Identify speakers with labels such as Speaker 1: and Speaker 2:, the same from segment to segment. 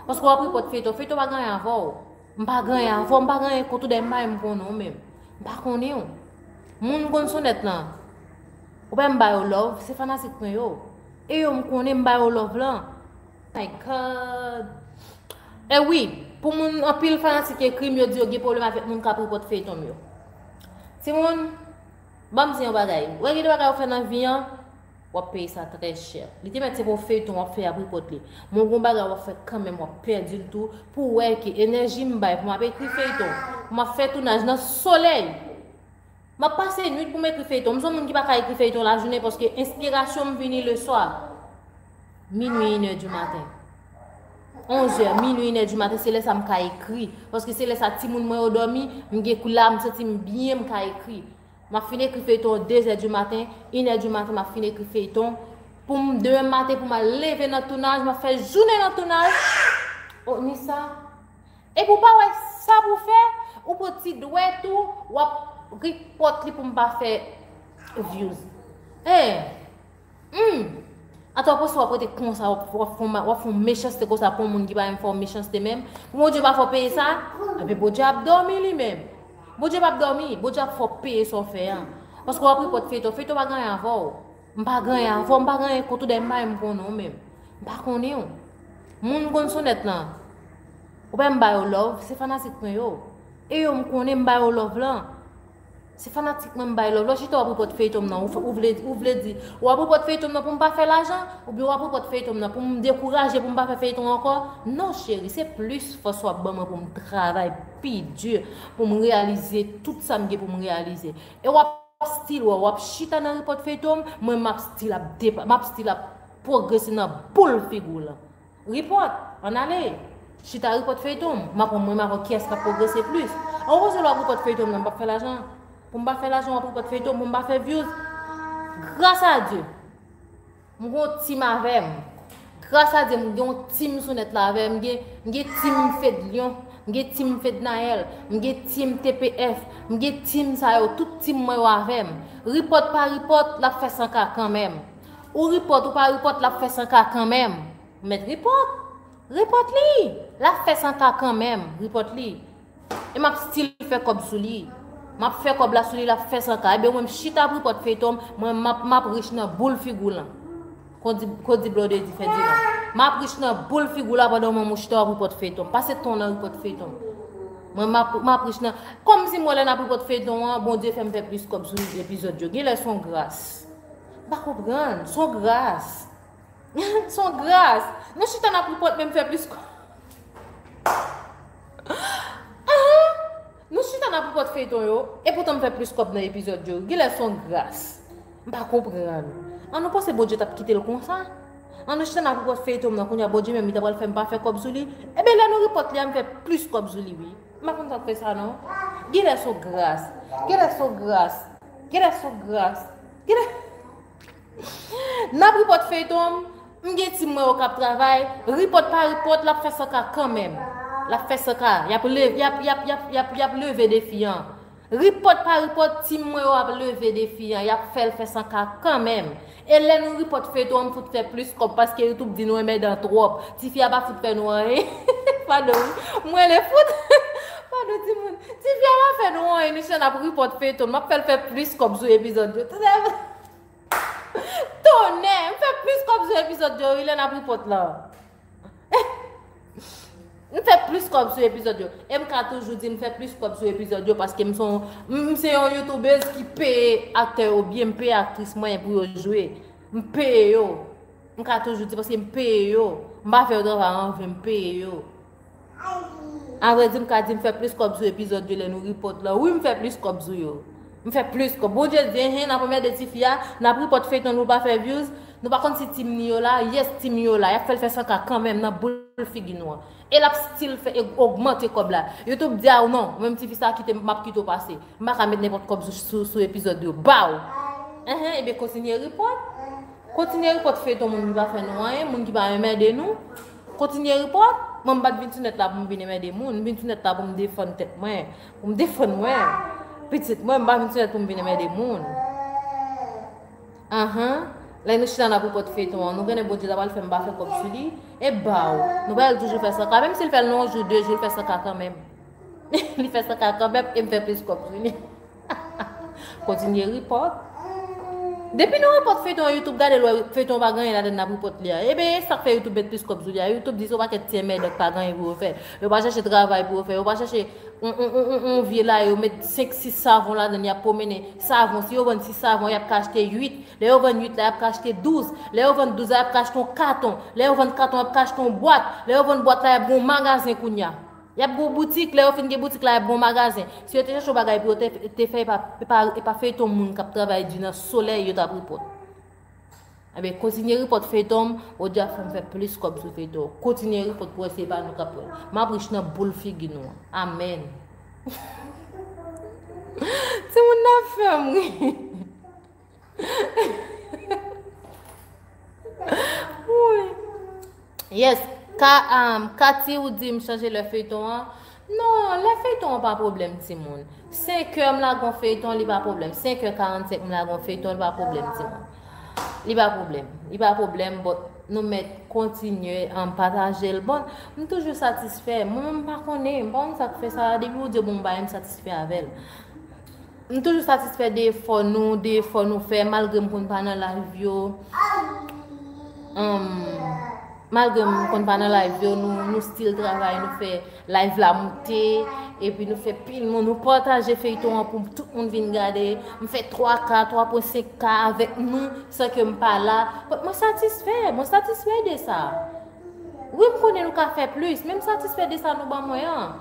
Speaker 1: Paske wap ri pot feyton, feyton pa gen anyen avèw. M pa gen anyen avèw, m pa gen anyen kont ou dèyè m pa menm konnen w menm. M pa konnen w. Moun konn sonèt lan. Ou pa wè m ba yo love, se fanatik mwen yo. E yo m konnen m ba yo love lan. My God. E wi, pou moun anpil fanatik ekri m yo di yo gen pwoblèm avèk moun kap ri pot feyton m yo. Timoun, banm di yon bagay. Ou wè gen de bagay ou fè nan vi an, Wap peye sa trè chè. Li te mèt se pa yon feyton wap fè ap report li m'en gon bagay wap fè kanmenm wap pèdil tou pouw wè ke enèji m bay pou map ekri feyton pou map fè tounaj nan solèy map pase nwit pou m ekri feyton m son moun ki paka ekri feyton lajounen paske enspirasyon m vini le swa minwi inè di maten onzè minwi inè di maten se lè sa m ka ekri paske se lè sa timoun mwen yo dòmi m gen kou la m santi m byen m ka ekri Map fin ekri feyton 2 zè du maten, 1 è du maten map fin ekri feyton poum demen maten poum al leve nan tounaj map fè jounen nan tounaj oh ni sa epi ou pa wè sa pou fè ou pran ti dwèt ou wap ripòt li poum pa fè vyouz eh. Humm! Atò poste wap rete konsa wap fon wap fon mechanste konsa pou yon moun ki pa menm fè w mechanste menm pou Bondye pa fè w peye sa anben Bondye ap dòmi li menm Bondye pap dòmi Bondye ap fè w peye sa w fè an paske wap repòt feyton feyton pa gen anyen avè w m pa gen anyen avè w m pa gen anyen kont ou dèyè m pa menm konnen w menm m pa konnen w moun konn sonèt lan ou pa wè m ba yo love se fanatik mwen yo e yo m konnen m ba yo love lan. Se fanatik mwen m bay love la. Chita wap report feyton m nan ou vle ou vle di wap report feyton m nan pou m pa fè lajan ou byen wap report feyton m nan pou m dekouraje pou m pa fè feyton ankò non cheri se plis fòs wap ban mwen pou m travay pi dur pou m reyalize tout sa m gen pou m reyalize e wap still wè wap chita nan report feyton m mwen map still ap map still ap progrese nan boul figi w lan. Report! An ale! Chita report feyton m, map wè mwen menm avèw kiyès kap progrese plis. An koze lè wap report feyton m nan m pap fè lajan? Pou m pa fè lajan wap report feyton m pou m pa fè views? Gras a Dye! M gen yon team avè m. Gras a Dye m gen yon team sou nèt la avè m. M gen team Fedlion, m gen team Fednaelle, m gen team TPF, m gen team sa yo, tout team mwen yo avè m. Report pa report, lap fè 100K kanmenm. Ou ripòt ou pa ripòt lap fè san ka kanmenm Mèt ripòt Ripòt li Lap fè san ka kanmenm Ripòt li E map stil fè kòb sou li Map fè kòb la sou li lap fè san ka Ebyen mwen mchita ap ripòt feyton Mwen map map rich nan boul figou w lan Kondi Kondi blòdè di fè di lan Map rich nan boul figou w la pandan mwen mchita wap ripòt feyton Pase tan w nan ripòt feyton Mwen map map rich nan Kòmsi mwen lè nap ripòt feyton an Bondye fèm fè plis kòb sou epizòd yo Genlè son gras M pa konprann. S on gras. S on gras. Nou chita nan poupot menm fè plis kòb. Nou chita nan poupot feyton yo, epoutan m fè plis kòb nan epizòd yo. Genlè s on gras. M pa konprann. An nou panse Bondye t ap kite l konsa? An nou chita nan poupot feyton m nan kounya Bondye menm li ta pral fè m pa fè kòb sou li? Enben lè nou repòt li a m fè plis kòb sou li wi. M pa konn sa k fè sa non. Genlè s on gras. Genlè s on gras. Genlè s on gras. Nap report feyton m m gen ti m wè yo kap travay report pa report lap fè 100 k kanmenm lap fè 100 k yap leve yap yap yap yap yap leve defi an report pa report ti m wè yo ap leve defi an yap fèl fè 100 k kanmenm e lè nou report feyton an m fout fè plis kòb paske youtube di nou renmen dan twòp tifi a pa fout fè nou anyen pardon wi m rele fout. Pardon timoun. Tifi a pa fè nou on emisyon nap report feyton map fèl fè plis kòb sou epizòd yo tonnè m fè plis kòb sou epizòd yo wi lè nap report lan m fè plis kòb sou epizòd yo e m ka toujou di m fè plis kòb sou epizòd yo paske m son m se yon youtubez ki peye aktè yo byen m peye aktris mwen pou yo jwe m peye yo m ka toujou di paske m peye yo m pa fè yo travay anven m peye yo. Avrè di m ka di m fè plis kòb sou epizòd yo lè nou ripòt lan wi m fè plis kòb sou yo m fè plis kòb Bondye di enhen n ap anmède tifi a n ap ripòt feyton nou pa fè vyouz nou pa konn si team ni yo la yes team yo la y ap fè l fè 100 k kanmenm nan boul figi nou an e l ap stil fè e ogmante kòb la youtube di a w non mwen m tifi sa kite m m ap kite w pase m pa ka met nenpòt kòb sou sou epizòd yo baw enhen ebyen kontinye ripòt kontinye ripòt feyton moun ki pa fè nou anyen moun ki pa anmède nou. Kontinye report? Mwen m pat vin sou nèt la pou m vin enmède moun, m vin sou nèt la pou m defann tèt mwen, pou m defann mwen, pitit mwen, m pa vin sou nèt pou m vin enmède moun. Ahh, lè nou chita n ap report feyton an, nou konnen Bondye ta pral fè m pa fè kòb sou li, e baww, nou pral toujou fè 100K, menm si l fè l nan yon jou, 2 jou, l fè 100K kanmenm. Li fè 100k kanmenm e m fè plis kòb sou li. Kontinye ri paw. Depi nou repòt feyton an youtube gadel wè feyton an pa gen anyen ladann nap repòt li a. E ben e sak fè youtube met plis kòb sou li a. Youtube di son pakèt ti enmède k pa gen anyen pou yo fè. Yo pa chèche travay pou yo fè. Yo pa chèche yon vye la yo met 5 6 savon ladann yap pwomennen. Savon si yo vann 6 savon yap ka achte 8. Lè yo vann 8 la yap ka achte 12. Lè yo vann 12 la yap ka achte yon katon. Lè yo vann katon yap ka achte yon bwat. Lè yo vann bwat la yap gen yon magazen kounya. Y ap gen yon boutik, lè yo fin gen boutik la y ap gen yon magazen. Si yo te chèche yon bagay pou yo te fè e pa feyton moun k ap travay di nan solèy yo t ap ripòt. Ebyen kontinye ripòt feyton m, ou di a fè m fè plis kòb sou feyton w. Kontinye ripòt pou wè si e pa nou k ap pran l. M ap rich nan boul figi nou an. Amèn. Timoun nan ap fè m ri. Yes, Kati ou di m chanje lè feyton an Non, lè feyton an pa problem ti moun 5 kè m lagon feyton li pa problem 5 kè 45 m lagon feyton li pa problem ti moun Li pa problem, li pa problem but nou met kontinye an pataje l bon M toujou satisfè, mwen menm m pa konnen, m pa konnen sa k fè sa depi ou di bon bagay m satisfè avè l M toujou satisfè de efò nou, de efò nou fè, malgre m konn pa nan live yo, humm, malgre m konn pa nan live yo, nou still travay, nou fè live la moute, epi nou fè pil moun, nou pataje feyton an pou tout moun vin gade, m fè 3 k, 3.5 k avèk nou, san ke m pa la, mwen satisfè, mwen satisfè de sa. Wi m konnen nou ka fè plis, men m satisfè de sa nou ban mwen an.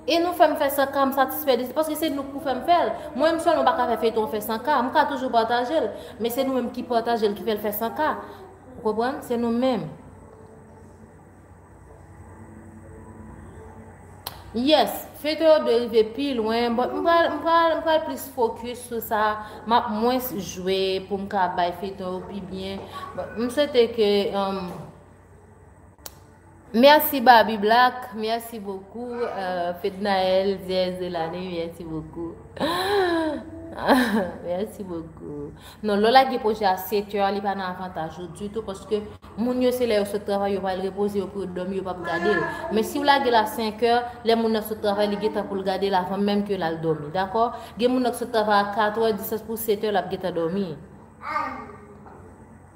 Speaker 1: E nou fè m fè 100 k m satisfè de sa, paske se nou k pou fè m fè l. Mwen m sèlman pa ka fè feyton an fè 100 k, m ka toujou pataje l, men se nou menm ki pataje l ki fè l fè 100 k. Ou konprann, se nou menm. Yes, feyton yo dwe rive pi lwen, but m pral, m pral, m pral plis focus sou sa, m ap mwens jwe pou m ka bay feyton yo pi byen, but m swete ke. Merci Barbie Black, merci beaucoup euh, Fednaël, Dièse de l'année, merci beaucoup. merci beaucoup. Non, lò lage proje a 7 heures, li pa nan avantaj ou du tout, paske moun yo se lè yo sot travay, yo pral repoze, yo pou yo dòmi, yo pap gade l. Men si w lage la 5 heures, lè moun nan sot travay, li getan pou l gade l avan menm ke l al dòmi, dakò? Gen moun nan ki sot travay a 4 heures, distans pou 7 heures, l ap getan dòmi.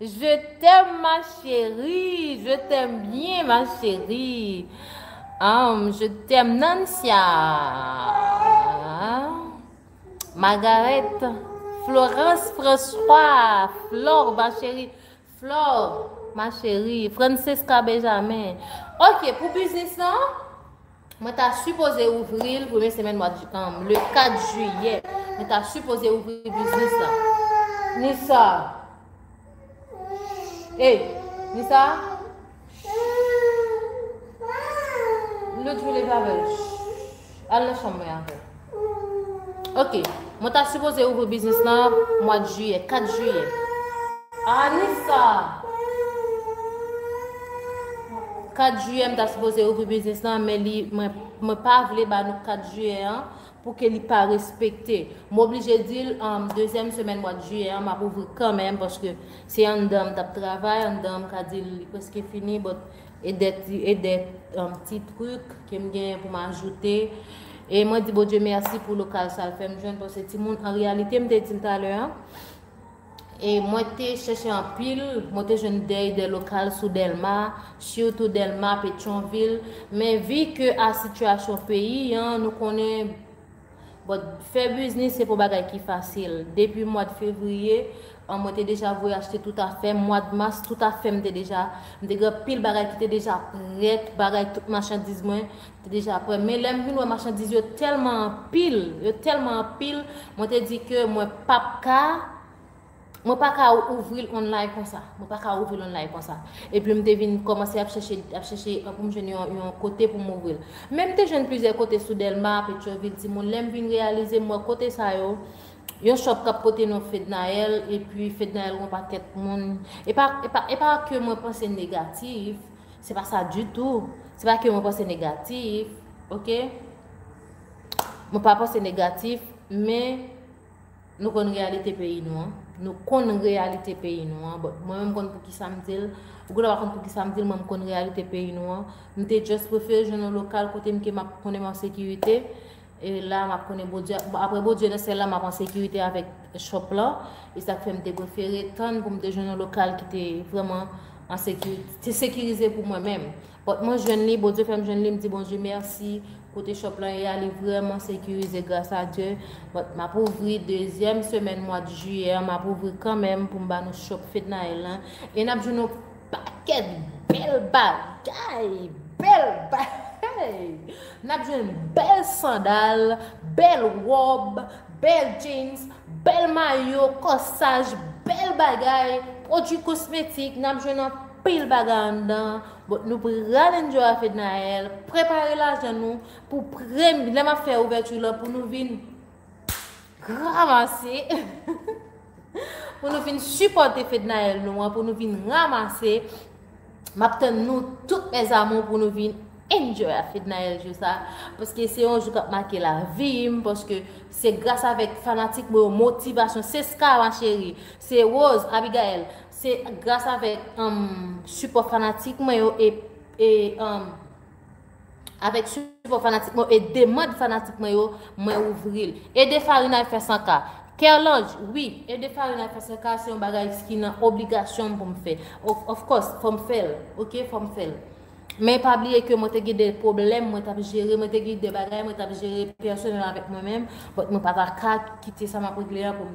Speaker 1: Je t'aime ma chérie je t'aime bien ma chérie humm je t'aime Nancia Margarette Florence François Flore ma chérie Flore ma chérie Francesca Benjamin ok pou biznis lan Mwen ta sipoze ouvri l premye semèn mwa le 4 jiyè. Mwen ta sipoze ouvri biznis la. Nisa. Hey, Nisa. Lou djou leve avèl. Al nan chanm mwen avèl. Ok, mwen ta sipoze ouvri biznis lan mwad jiyè, 4 jiyè. Anisa! 4 jiyè m ta sipoze ouvri biznis lan, men li mwen pa vle ba nou 4 jiyè an pou ke li pa respekte. M oblije di l an dezyèm semèn mwad jiyè an m ap ouvri kanmenm paske se anndan m t ap travay, anndan an m ka di l li preske fini, but E de e de um ti truc ke m genyen pou m ajoute. E mwen di Bondye mèsi pou lokal sa l fè m jwenn pase timoun an reyalite m te di l talè an. E mwen te chèche anpil, mwen te jwenn de e de lokal sou Dèlma, sitou Dèlma, Petyonvil, men vi ke a sitiyasyon peyi an nou konnen But fè biznis se pou bagay ki fasil. Depi mwad fevriye an mwen te deja voye achte tout afèm, mwad mas tout afèm te deja, m te gen anpil bagay ki te deja prèt, bagay tout machandiz mwen te deja prè. Men lèm vin wè machandiz yo tèlman anpil, yo tèlman anpil, mwen te di ke mwen pap ka. Mwen pa ka ouvri l online konsa. Mwen pa ka ouvri l online konsa. Epi m te vin kòmanse ap chèche, ap chèche pou m jwenn yon, yon kote pou m ouvri l. Men m te jwenn plizyè kote sou Dèlma, Petyon-Vil, Timoun. Lè m vin reyalize, m wè kote sa yo, yon shop k ap pote non Fednaelle, epi Fednaelle gen yon pakèt moun. E pa, e pa, e pa ke mwen panse negatif. Se pa sa ditou. Se pa ke mwen panse negatif. Ok? Mwen pa panse negatif. Men. Nou konn reyalite peyi nou an. Nou konn reyalite peyi nou an. Bon, mwen menm m konn poukisa m di l. Ou gen dwa pa konn poukisa m di l, mwen m konn reyalite peyi nou an. M te just prefere jwenn yon lokal kote m ke m ap konnen m an sekirite. E la m ap konnen Bondye, aprè Bondye nan syèl la m ap an sekirite avèk shop lan. E sa k fè m te prefere tann pou m te jwenn yon lokal ki te vrèman an sekirite, te sekirize pou mwen menm. But mwen jwenn li, Bondye fèm jwenn li, m di Bondye merci, kote shop lan ye a li vrèman sekirize gras a Dye, but map ouvri dezyèm semèn mwad jiyè an map ouvri kanmenm poum ba nou shop Fednaelle lan e nap jwenn yon pakèt bèl bagay, bèl bagay! Nap jwenn bèl sandal, bèl wòb, bèl jeans, bèl mayo, kòsaj, bèl bagay, pwodwi kosmetik, nap jwenn anpil. pil bagay anndan bon nou pral enjoy a fednaelle prepare lajan nou pou premye lè map fè ouverture lan pou nou vin ramase pou nou vin supporte fednaelle nou an pou nou vin ramase map tann nou tout mes amour pou nou vin enjoy a fednaelle jou sa paske se yon jou kap make la vim paske se gras avèk fanatik mwen motivation se ska ma chérie se rose abigaelle Se gras avèk sipò fanatik mwen yo e avèk sipò fanatik mwen yo e demand fanatik mwen yo mwen ouvri l. Ede Farinay fè 100 k. Kerlange, Wi, ede Farinay fè 100 k se yon bagay ki nan obligasyon m pou m fè. Of course, fò m fè l. Ok, fò m fè l. Men pa bliye ke mwen te gen de pwoblèm mwen t ap jere, mwen te gen de bagay mwen t ap jere pèsonèl avèk mwen menm, but mwen pa ta ka kite sa m ap regle an pou m.